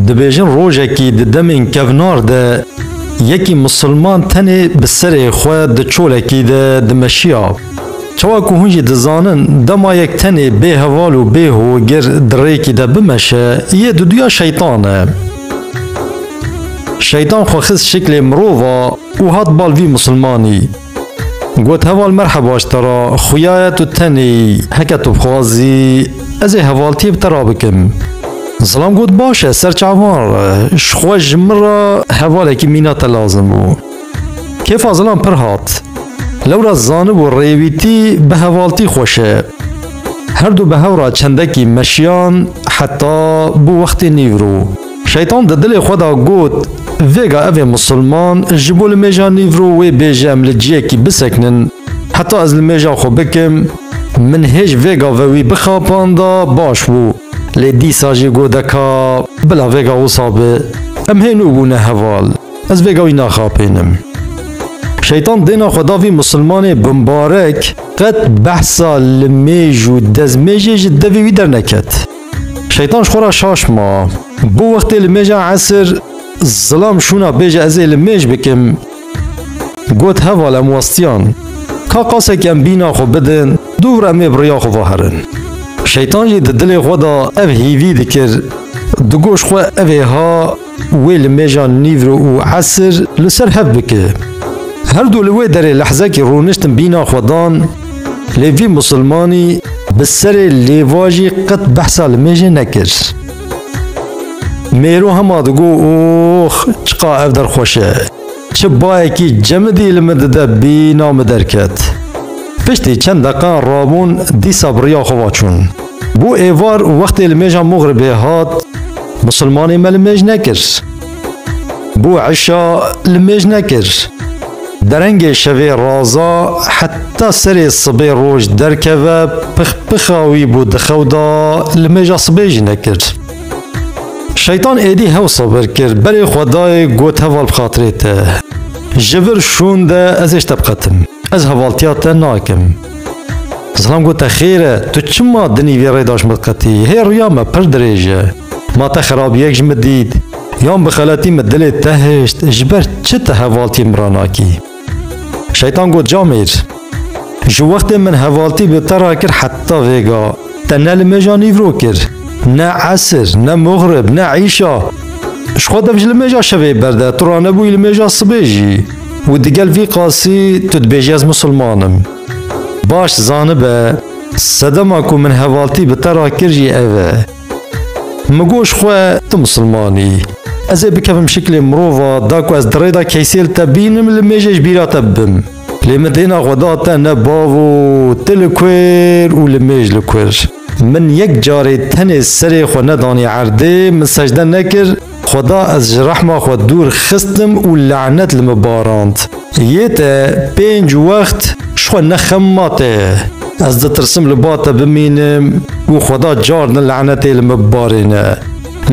Dibêjin rojekî di demên kevnar de yekî misilman tenê bi serê xwe di çolekî de dimeşiya. Çawa ku hûn jî dizanin dema yek tenê bê heval û bê hogir di rêkî de bimeşe yê duduya şeytan e. Şeytan xwe xist şiklê mirova û hat bal vî misilmanî. Got heval merheba ji te re xuya ye tu tenê heke tu bixwazî ez ê hevaltiyê bi te re bikim. Zilam got baş e ser çavan re ji xwe ji min re hevalekî mîna te lazim bû. Kêfa zilam pir hat. Lewra zanibû rêwîtî bi hevaltî xweş e. Herdu bi hev re çendekî meşiyan heta bû wextê nîvro. Şeytan di dilê xwe de got, Vêga ev ê misilman ji bo li mêja nîvro wê bêje em li ciyekî bisekinin. Heta ez li mêja xwe bikim, min hêj vêga ve wî bixapanda baş bû. Lê dîsa jî got deka bila vêga wisa be. Em hênû bûne heval. Ez vêga wî naxapênim. Şeytan dêna xwe da vî misilmanê binbarek, qet behsa li mêj û dezmêjê ji devê wî derneket. Şeytan ji xwe re şaş ma. Bo wextê li mêja esir zilam şûna bêje ez ê li mêj bikim. Got heval em westiyan. Ka qasek em bîna xwe bidin dûr em ê bi riya xwe ve herin. Şeytan jî di dilê xwe de ev hîvî dikir. Digot ji xwe ev ê ha Wê li mêja nîvro û esir li ser hev bike. Her du li wê derê lehzekî rûniştin bîna xwe dan, lê vî misilmanî bi serê lêvajî qet behsa li mêjê nekir. Mêro hema digo Ox, çiqa ev der xweş e! Çi bayekî cemidî li min dide bîna min derket. Piştî çend deqan rabûn dîsa bi riya xwe ve çûn. Bû êvar û wextê li mêja Mugribê hat, Musilmanê me li mêj nekir. Bû eşa li mêj nekir. Derengê şevê raza heta serê sibê roj derkeve pixpixa wî bû di xew da li mêja sibê jî nekir. Şeytan êdî hew sabir kir berê Xwedayê got heval bi xatirê te. Ji vir şûn de ez ê ji te biqetim. Ez hevaltiya te nakim. Zilam got te xêr e, tu çima dinî vê rê de ji min qetî? Hê rûya me pir dirêj e. Ma te xerabiyek ji min dît? Yan bi xeletî min dilê te hişt, ji ber çi tu hevaltiyên min re nakî? Şeytan got Camêr, ji wextê min hevaltî bi te re kir heta vêga, Te ne li mêja nîvro kir, ne esir, ne muxrib, ne îşa. Ji xwe dev ji li mêja şevê berde, tu ranebûyî li mêja sibê jî. Û digel vî qasî tu dibêjî ez misilman im. Baş zanibe, sedema ku min hevaltî bi te re kir jî ev e. Min got ji xwe tu misilman î. Ez ê bikevim şiklê mirova, da ku ez di rê de keysê li te bînim, li mêjê ji bîra te bibim. Lê min dêna xwe da te ne bav û tu li kûr û li mêj li kûr. Min yek carê tenê serê xwe nedanî erdê, min secde nekir, xweda ez ji rehma xwe dûr xistim û lanet li min barand. Yê te pênc wext ji xwe nexem ma te. Ez ditirsim li ba te bimînim û xweda carna lanetê li min barêne.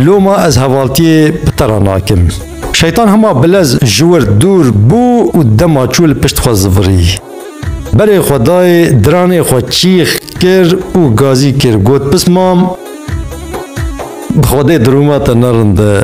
Loma ez hevaltiyê bi te re nakim. Şeytan hema bilez ji wir dûr bû û dema çû li pişt xwe zivirî. Berê xwe dayê diranê xwe çîx kir û gazî kir got pismam bi xwedê dirûma te nerinde.